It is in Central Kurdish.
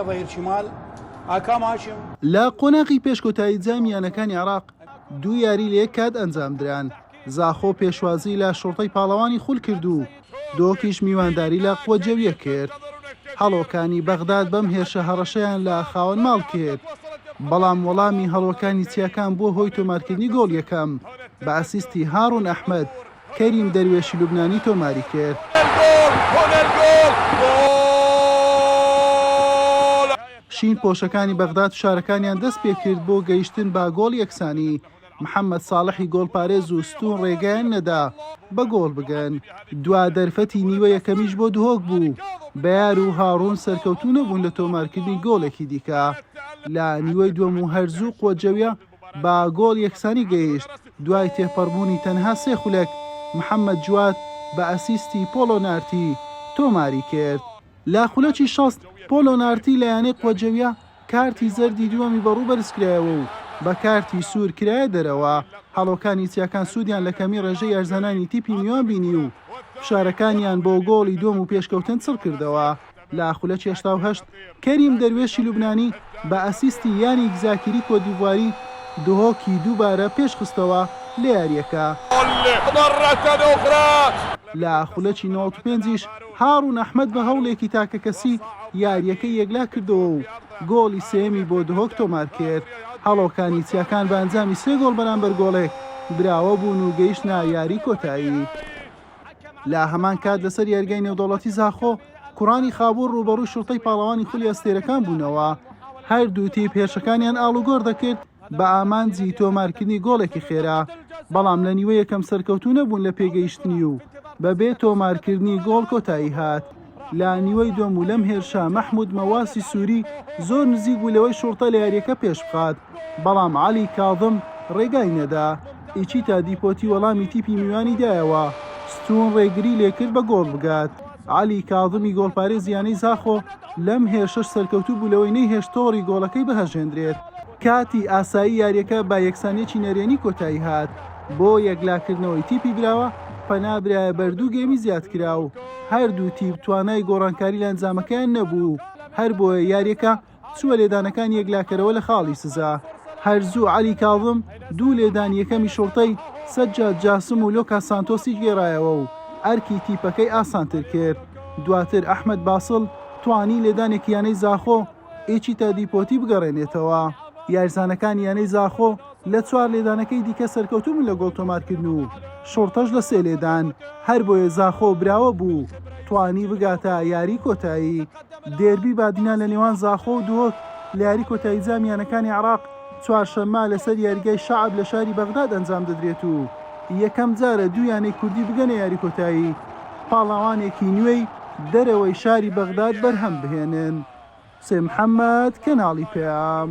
ظهیر چیمال، ئاکام هاشم. لە قۆناغی پێش کۆتایی جامی یانەکانی عێراق، دوو یاری لە یەک کات ئەنجامدران، زاخۆ پێشوازی لە شوڕتەی پاڵەوانی خول کرد و دۆکیش میوانداری لە قوە جەویە کرد، هەڵۆکانی بەغداد بەم هێرشە هەڕەشەیان لە خاوەن ماڵ کرد، بەڵام وەڵامی هەڵۆکانی چیاکان بووە هۆی تۆمارکردنی گۆڵ یەکەم بە ئەسیستی هاڕون ئەحمەد. کەریم دەروێشی لوبنانی تۆماری کرد. شین پۆشەکانی بەغداد فشارەکانیان دەست پێکرد بۆ گەیشتن بە گۆڵ یەکسانی، محەمەد ساڵحی گۆڵپارێز و ستوون رێگەیان نەدا بە گۆڵ بگەن، دوا دەرفەتی نیوە یەکەمیش بۆ دهۆک بوو، بەیار و هاڕوون سەرکەوتوو نەبوون لە تۆمارکردنی گۆڵێکی دیکە لە نیوەی دووەم و هەر زوو قوەجەویە. بە گۆڵ یەکسانی گەیشت دوای تێپەڕبوونی تەنها سێ خولەک، محەمەد جواد بە ئەسیستی پۆڵۆ نارتی تۆماری کرد. لە خولەکی شەست، پۆڵۆ نارتی لە یانەی قوەجەویە کارتی زەردی دووەمی بە ڕوو بەرزکرایەوە و بە کارتی سوور کرایە دەرەوە، هەڵۆکانی چیاکان سوودیان لە کەمی ڕێژەی یارزانانی تیپی میوان بینی و فشارەکانیان بۆ گۆڵی دووەم و پێشکەوتن چڕکردەوە. لە خولە چێشتا و هەشت، کەریم دەروێشی لوبنانی بە ئەسیستی یانیک زاکیری کۆتدیڤواری، دهۆکی دووبارە پێشخستەوە لە یارییەکە. لە خولەکی نەوەد و پێنج یش، هاڕون ئەحمەد بە هەوڵێکی تاکەکەسی، یارییەکەی یەکلا کردەوە و گۆڵی سێیەمی بۆ دهۆک تۆمارکرد. هەڵۆکانی چیاکان بە ئەنجامی سێ گۆڵ بەرامبەر گۆڵێک براوە بوون و گەیشتنە یاریی کۆتایی. لە هەمان کات لەسەر یاریگای نێودەوڵەتی زاخۆ کوڕانی خابوور ڕووبەڕووی شوڕتەی پاڵەوانی خولی ئەستێرەکان بوونەوە هەردوو تیپ هێرشەکانیان ئاڵوگۆڕ دەکرد بە ئامانجی تۆمارکردنی گۆڵێکی خێرا بەڵام لە نیوە یەکەم سەرکەوتوو نەبوون لە پێگەیشتنی و بەبێ تۆمارکردنی گۆڵ کۆتایی هات. لە نیوەی دووەم و لەم هێرشە مەحمود مەواسی سوری زۆر نزیک بوو لەوەی شوڕتە لە یاریەکە پێش بخات، بەڵام عەلی کاظم رێگای نەدا، ئیچیتا دیپۆتی وەڵامی تیپی میوانی دایەوە، ستون رێگری لێکرد بە گۆڵ بگات، عەلی کاظمی گۆڵپارێزی یانەی زاخۆ لەم هێرشەش سەرکەوتوو بوو لەوەی نەیهێشت تۆڕی گۆڵەکەی بهەژێندرێت. کاتی ئاسایی یاریەکە بە یەکسانیەکی نەرێنی کۆتایی هات. بۆ یەکلاکردنەوەی تیپی براوە پەنا برایە بەر دوو گێمی زیادکراو، هەردوو تیپ توانای گۆڕانکاری لە ئەنجامەکەیان نەبوو، هەربۆیە یارییەکە چووە لێدانەکانی یەکلاکەرەوە لە خاڵی سزا، هەرزوو عەلی کاظم دوو لێدانی یەکەمی شوڕتەی سەجاد جاسم و لۆکاس سانتۆسی گێڕایەوە و ئەرکی تیپەکەی ئاسانتر کرد، دواتر ئەحمەد باسڵ توانی لێدانێکی یانەی زاخۆ، ئیچیتا دیپۆتی بگەڕێنێتەوە، یاریزانەکانی یانەی زاخۆ. لە چوار لێدانەکەی دیکە سەرکەوتوو بوون لە گۆڵ تۆمارکردن و شوڕتەش لە سێ لێدان، هەربۆیە زاخۆ براوە بوو توانی بگاتە یاریی کۆتایی. دێربی بادینان لە نێوان زاخۆ و دهۆک لە یاریی کۆتایی جامی یانەکانی عێراق چوارشەممە لەسەر یاریگای شەعب لە شاری بەغداد ئەنجام دەدرێت و یەکەم جارە دوو یانەی کوردی بگەنە یاریی کۆتایی پاڵەوانێکی نوێی دەرەوەی شاری بەغداد بەرهەم بهێنن. حوسێن محەممەد، کەناڵی پەیام.